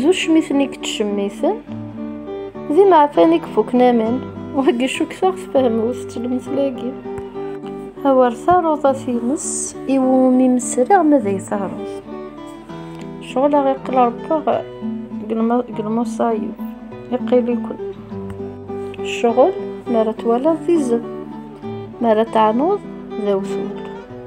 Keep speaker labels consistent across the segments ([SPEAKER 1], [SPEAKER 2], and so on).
[SPEAKER 1] d ucmiten i yettcemmiten d imeɛfan i ifuken aman wagi cukteɣ tfehmeḍ-t lemtel-agi awer taruḍat-ines i wumi mesriɣ ma d ay taruḍ cɣel aɣ iqil rebbaɣ deg lmuṣayib iqil-iken ccɣel mi ara twalaḍ d izem mi ara teɛnuḍ d awtul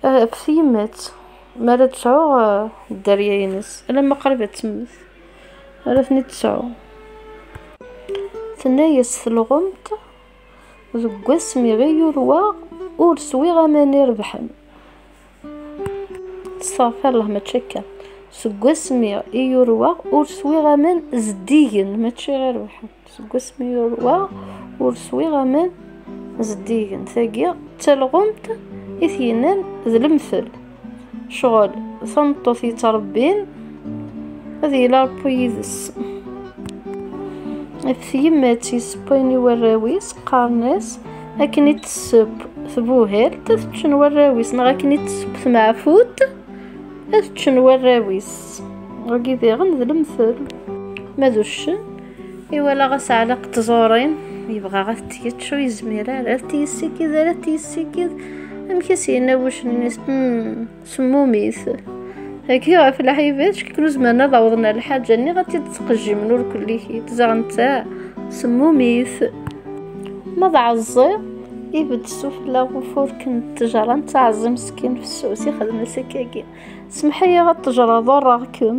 [SPEAKER 1] Eh, f yemma-tt mi ara d-tesɛu eh, dderya-ines, alamma qrib ad temmet, ara ten-id-tesɛu. Tenna-yas telɣemt, deg wass mi ɣ-yurweɣ, ur swiɣ aman irebḥen. Stafirlah, mačči akka. Seg wass mi i yurweɣ, ur swiɣ aman zeddigen, mačči irebḥen. seg wasmi yurwa ur swiɣ aman zeddigen tagi d talɣumt i t-yennan d lemtel ccɣel tameṭṭut yettrebbin ad yili ṛebbu yid-s ɣef tyemmat yessewwayen i warraw-is qqaren-as akken i tesseww tbuhalt ad ččen warraw-is neɣ akken i tesseww tmeɛfut ad ččen warraw-is wagi diɣen d lemtel ma d uccen Iwala ɣas ɛlaq tẓuri yebɣa ad t-yečč ur yezmir ara ad t-yessikid ara ad t-yessikid amek i s-yenna wucnnis hmm, semmumit Hagi ɣef lḥibat ckikken ur zemren ad awḍen ar lḥaǧa nniɣ ad t-id-ttqejjimen ur kullikit zaɣ netta semmumit ma d ɛeẓẓi ibedd sufella ufurk n ttejra netta ɛeẓẓi meskin fessus ixdem-as akkagi semḥ-iyi ad tejreḍ ḍurreɣ-kem